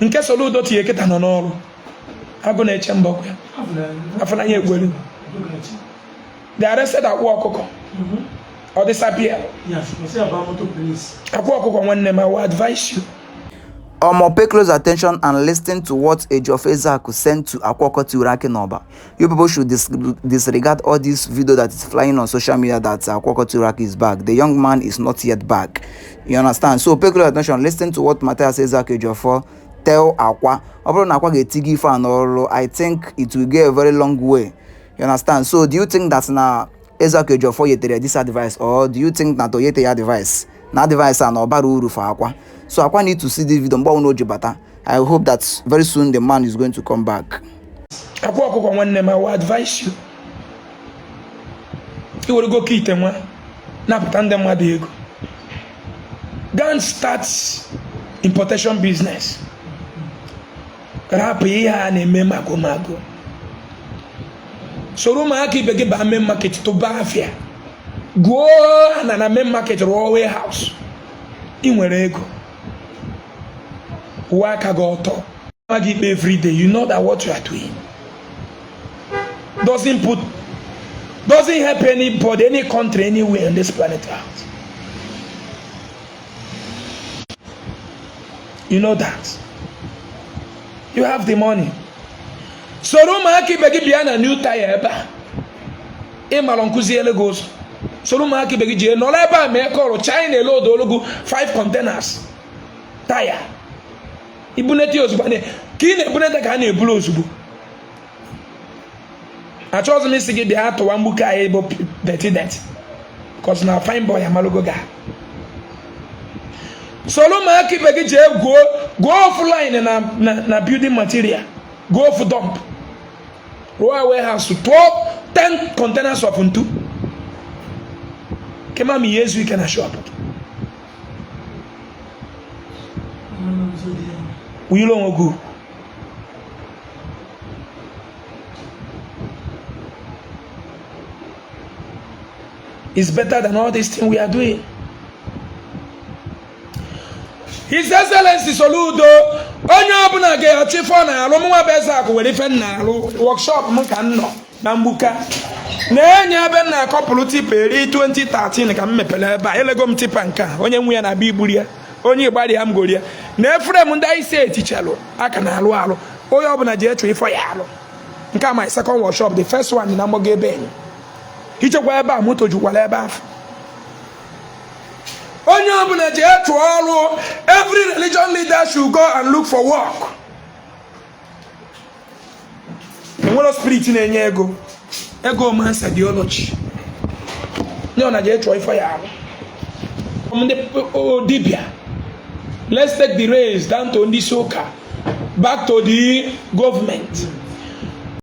nke Soludo tinye kịta nọ n'ọrụ agụ na-eche mba ya afụ n'anya ekwelu they arrested akwa ọkụkọ ọ disappear akwa ọkụkọ nwanne m I will advise you Omo pay close attention and listen to what Ejiofor Ezeaku sent to Akwa Ọkụkọ Tiwara Akị n'Ọba. You people should dis disregard all this video that is flying on social media that uh, Kwoko Turak is back. The young man is not yet back. You understand? So pay close attention. Listen to what Matthias Ezaki Jofor tell Akwa. Ọ bụrụ na Akwa ga-eti gị ife a n'ọrụ, I think it will go a very long way. You understand? So do you think that na Ezeaku Ejiofor nyetere this advice or do you think na o nyete ya advice na advice a na ọ bara uru for akwa so akwa need to see this video mgbe ọbụla o ji bata I hope that very soon the man is going to come back. akwa ọkụkọ nwanne m I will advise you i were ego ka ite nwa napụta ndị mmadụ ego go and start importation business rapụ ihe a na-eme magomago soro ụmụaka ibe gị baa main market tụba afịa goo ana na main market rụọ warehouse ị nwere ego uwe aka gị ọtọ nwa gị ikpe everyday you know that what you are doing doesn't put doesn't help anybody any country anywhere on this planet earth you know that you have the money soro ụmụaka ibe gị bịa na new tyre ebe a ị marọ m kuziele gị ụzọ soro ụmụaka ibe gị jee nọrọ ebe a mee kọrụ china e loadụọlụ gị 5 containers taya i bunete ozugbo ka ị na-ebunete ka a na-eburu ozugbo achọghịzi m ịsị gị bịa tụwa mgbuka anyị bụ dirty dirty cos na fine boy amalugo gaa soro ụmụaka ibe gị jee goo goo ofu line na na building material goo ofu dump rụọ warehouse tụọ 10 containers of ntu kema ma ihe ezu ike na shop wụnyere onwe gị is better than all this thing we are doing. His Excellency Soludo onye ọbụla ga-achọ ife ọ na-alụ mụnwa bụ Ezeaku nwere ife m na-alụ workshop m ka m nọ na mgbuka na-enye ebe m na-acouple tipa eri 2013 ka m mepere ebe a elego m tipa nke a onye nwe ya na-abịa iburu ya onye ịgbalị ya m gori ya na efere m ndị anyị si etichalụ aka na-alụ ọlụ onye ọbụla jee chọọ ife ọ ya-alụ nke a my second workshop the first one na mgbago ebe enyi i jekwa ebe a moto jukwara ebe afụ onye ọbụla jee chọọ ọrụ every religion leader should go and look for work enwere spirit na-enye ego ego ọ man's ideology ndị ọ na ji chọọ ife ya arụ ndị dibia let's take the race down to ndị isi ụka back to the government